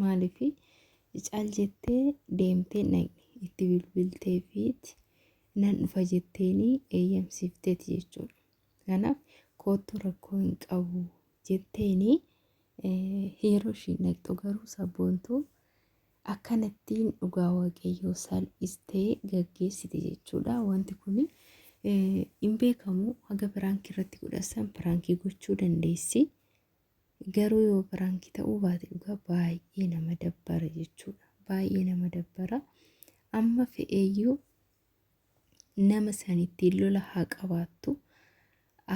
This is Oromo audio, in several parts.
Maaliifi cal jettee deemtee hin dhaqne. Itti bilbilteefiiti nan dhufa jetteeni eeyyamsiifteeti jechuudha. Kanaaf koottuu rakkoo hin qabu jetteeni yeroo ishiin dhaqxu garuu sabboontuu akkanattiin dhugaa waaqayyoo salphistee gaggeessite jechuudha. Wanti kun hin beekamu haga piraankii irratti godhassan piraankii gochuu dandeessi. Garuu yoo piraanki ta'uu baate dhugaa baay'ee nama dabbara jechuudha. Baay'ee nama dabbara. Amma fe'eeyyuu nama sanittiin lola haa qabaattu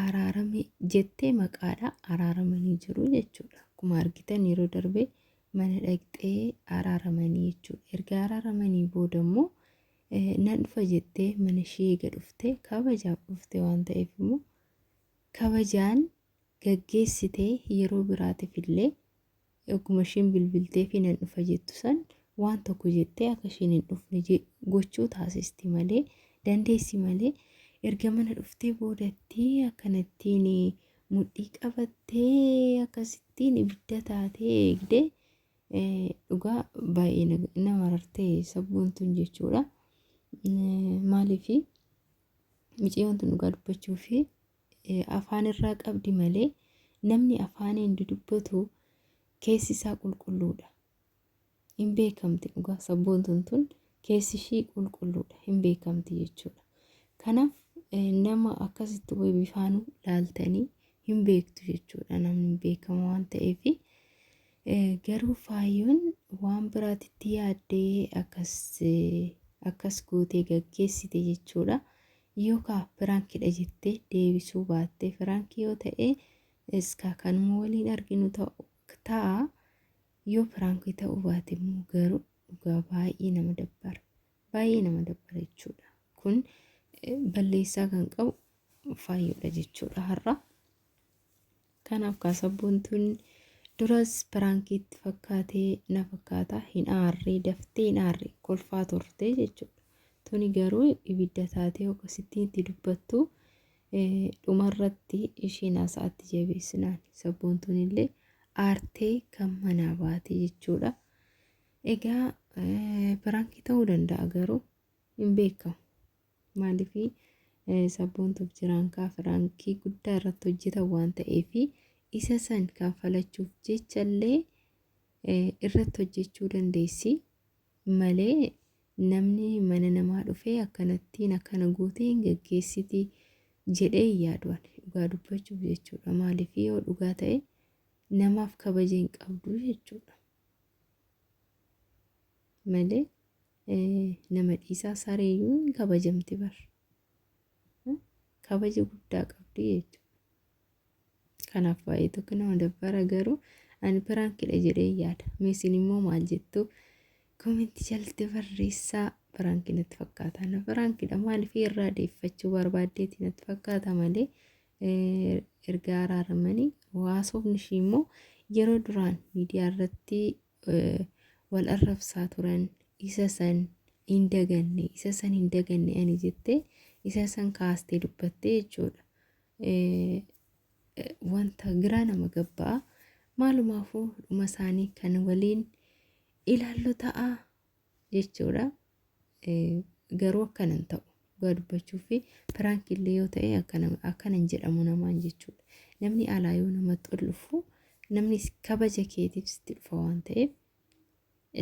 araarame jettee maqaadha araaramanii jiru jechuudha. Akkuma argitan yeroo darbe mana dhaqxee araaramanii jechuudha. Erga araaramanii booda immoo nan dhufa jettee mana ishee eega dhuftee kabajaaf dhuftee waan ta'eef immoo kabajaan gaggeessite yeroo biraatif illee ogguma ishiin bilbilteefi nan dhufa jettu san waan tokko jettee akka ishiin hin dhufne je- gochuu taasisti malee dandeessi malee erga mana dhuftee boodatti akkanattiin mudhii qabattee akkasittiin ibidda taatee eegdee eh, dhugaa baay'ee na- na marartee sabboon tun jechuudha. Eh, Maaliifi miciyyoon tun dhugaa dubbachuu fi afaan irraa qabdi malee namni afaaniin dudubbatu keessi isaa qulqulluudha. Hin beekamti dhugaa sabboontuun tun keessi ishii qulqulluudha hin beekamti jechuudha. Kanaaf nama akkasitti way bifaanuu laaltanii hin beektu jechuudha namni hin beekama waan ta'eef. Garuu faayyoon waan biraatitti yaaddee akkas akkas gootee gaggeessite jechuudha. Yoo kaa piraankidha jettee deebisuu baatte piraankii yoo ta'e iskaa kanuma waliin arginu ta'u ta'a yoo piraankii ta'uu baate immoo garuu dhugaa baay'ee nama dabbara baay'ee nama dabbara jechuudha kun eh, balleessaa kan qabu faayyoodha jechuudha har'a Kanaaf kaa sabboontuun duras piraankii itti fakkaatee na fakkaata hin aarree daftee hin aarre kolfaa turte jechuudha. Tuni garuu ibidda taatee akkasittiin itti dubbattu eh, dhumarratti isheen haasa'atti jabeessinaan sabboontuun illee aartee kan manaa baate jechuudha. Egaa eh, piraankii ta'uu danda'a garuu hin beekamu. Maaliifi sabboontuuf jiraan kaa firaankii guddaa irratti hojjetan waan ta'eefi isa san kanfalachuuf jechallee irratti hojjechuu dandeessi malee namni mana namaa dhufee akkanattiin akkana gootee hin gaggeessiti jedhee hin yaadu ani dhugaa dubbachuuf jechuudha maaliif yoo dhugaa ta'e namaaf kabaja hin qabdu jechuudha malee Nama dhiisaa sareeyyuu hin kabajamti bar. Kabaja guddaa qabdi jechuudha. Kanaaf baay'ee tokko nama dabbara garuu ani piraankidha jedhee yaada. Meesin immoo maal jettu koomenti jalatti barreessaa piraanki natti fakkaata. Na piraankidha maaliif irraa deeffachuu barbaaddeeti natti fakkaata malee erga araaramanii haasofni ishii immoo yeroo duraan miidiyaa irratti wal arrabsaa turan isa san hin daganne isa san hin daganne ani jettee isa san kaastee dubbattee jechuudha. Wanta giraa nama gabbaa maalumaafuu dhuma isaanii kan waliin ilaallu ta'a jechuudha. garuu akkan hin ta'u dhugaa dubbachuu fi piraank illee yoo ta'e akkana hin jedhamu namaan jechuudha namni alaa yoo namatti ol dhufu namni kabaja keetiif sitti dhufa waan ta'eef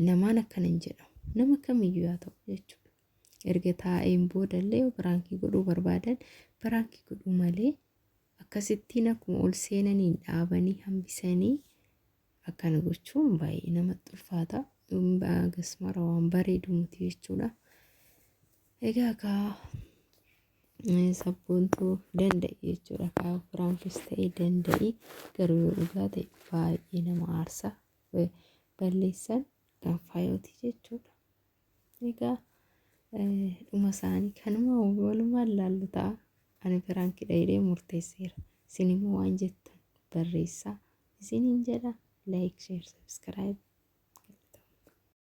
namaan akkana hin jedhamu nama kamiyyuu yaa ta'u jechuudha erga taa'een boodallee yoo piraankii godhuu barbaadan piraankii godhuu malee akkasittiin akkuma ol seenaniin dhaabanii hambisanii Akkana gochuun baay'ee namatti ulfaata. Gasmara waan bareedu miti jechuudha. Egaa kaa sabboontuu danda'i jechuudha. Kaa firaanfis ta'e danda'i garuu yoo dhugaa ta'e baay'ee nama aarsa. Balleessan kan faayooti jechuudha. Egaa dhuma isaanii kanuma walumaan laallu ta'a. Ani piraankidha jedhee murteesseera. Isin immoo waan jettan barreessaa. Isiniin jedha like, share, subscribe.